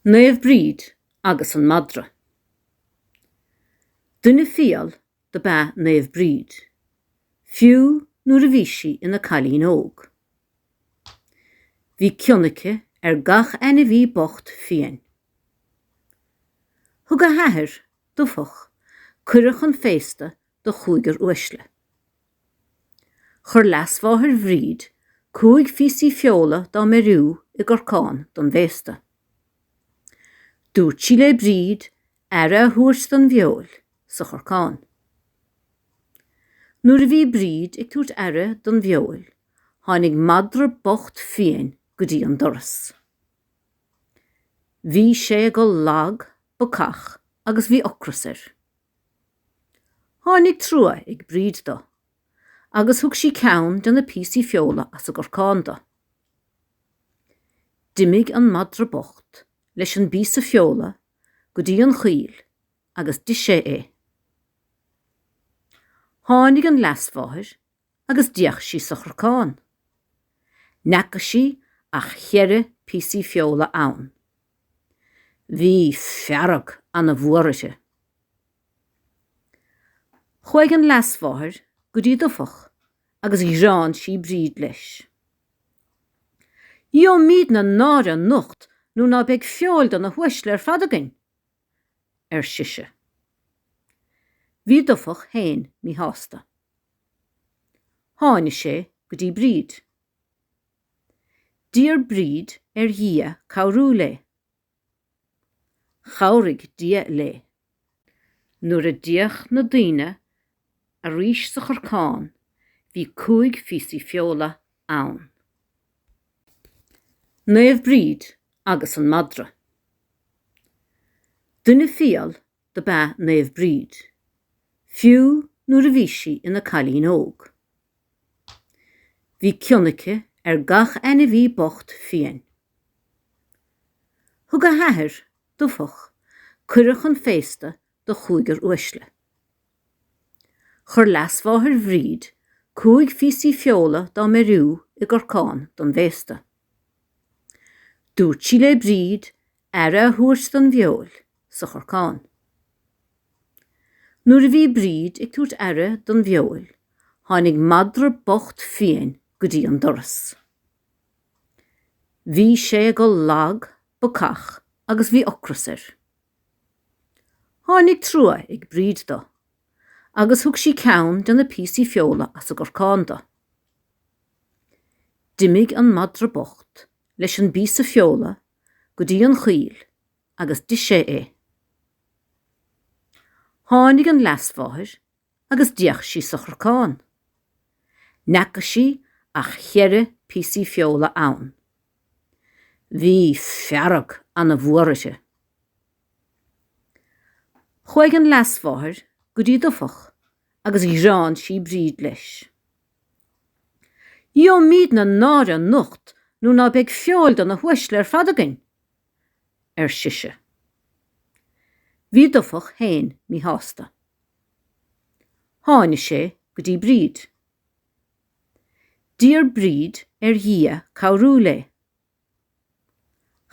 Naomh Bríd agus an madra. Duine fial do b'ea Naomh Bríd, fiú nuair a bhí sí ina cailín óg. Bhí cion aici ar gach ainmhí bocht fiain. Thug a hathair, Dubhthach, cuireadh chun féasta do chúigear uaisle. Chuir leasmháthair Bhríd cúig phíosaí feola dá mbeiriú i gcorcán don bhféasta. Dúirt sí le Bríd aire a thabhairt don bhfeoil sa chorcán. Nuair a bhí Bríd ag tabhairt aire don bhfeoil tháinig madra bocht fiain go dtí an doras. Bhí sé go lag, bacach agus bhí ocras air. Tháinig trua ag Bríd do agus thug sí ceann de na píosaí feola as an gcorcán do. D'imigh an madra bocht leis an bpíosa feola go dtí an choill agus d'ith sé é. Tháinig an leasmháthair agus d'fhéach sí sa chorcán. N'fheaca sí ach cheithre píosaí feola ann. Bhí fearg ana mhór uirthi. Chuaidh an leasmháthair go dtí Dubhthach agus ghearán sí Bríd leis. Gheobhaimíd na náire anocht nuair ná beidh feoil do na huaisle ar fad againn. ar sise. Bhí Dubhthach féin míshásta. Tháinig sé go dtí Bríd. D'iarr Bríd ar Dhia cabhrú léi. Chabhraigh Dia léi. Nuair a d'fhéach na daoine Arís sa chorcán bhí cúig phíosaí feola ann. Naomh Bríd agus an madra. Duine fial do b'ea Naomh Bríd, fiú nuair a bhí sí ina cailín óg. Bhí cion aici ar gach ainmhí bocht fiain. Thug a hathair, Dubhthach, cuireadh chun féasta do chúigear uaisle. Chuir leasmháthair Bhríd cúig phíosaí feola dá mbeiriú i gcorcán don bhféasta. Dúirt sí le Bríd aire a thabhairt don bhfeoil sa chorcán. Nuair a bhí Bríd ag tabhairt aire don bhfeoil tháinig madra bocht fiain go dtí an doras. Bhí sé go lag, bacach agus bhí ocras air. Tháinig trua ag Bríd do agus thug sí ceann de na píosaí feola as a gcorcán do. D'imigh an madra bocht leis an bpíosa feola go dtí an choill agus d'ith sé é. Tháinig an leasmháthair agus d'fhéach sí sa chorcán. Ní fhaca sí ach cheithre píosaí feola ann. Bhí fearg ana mhór uirthi. Chuaigh an leasmháthair go dtí Dufach agus ghearán sí Bríd leis. Gheobhaimid ana náire anocht nuair ná beidh feoil do na huaisle ar fad againn, ar sise. Bhí Dufach fhéin míshásta. Tháinig sé go dtí Bríd. D'iarr Bríd ar Dhia cabhrú léi.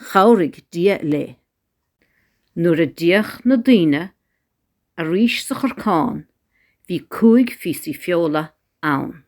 Chabhraigh Dia léi. Nuair a d'fhéach na daoine arís sa chorcán bhí cúig phíosaí feola ann.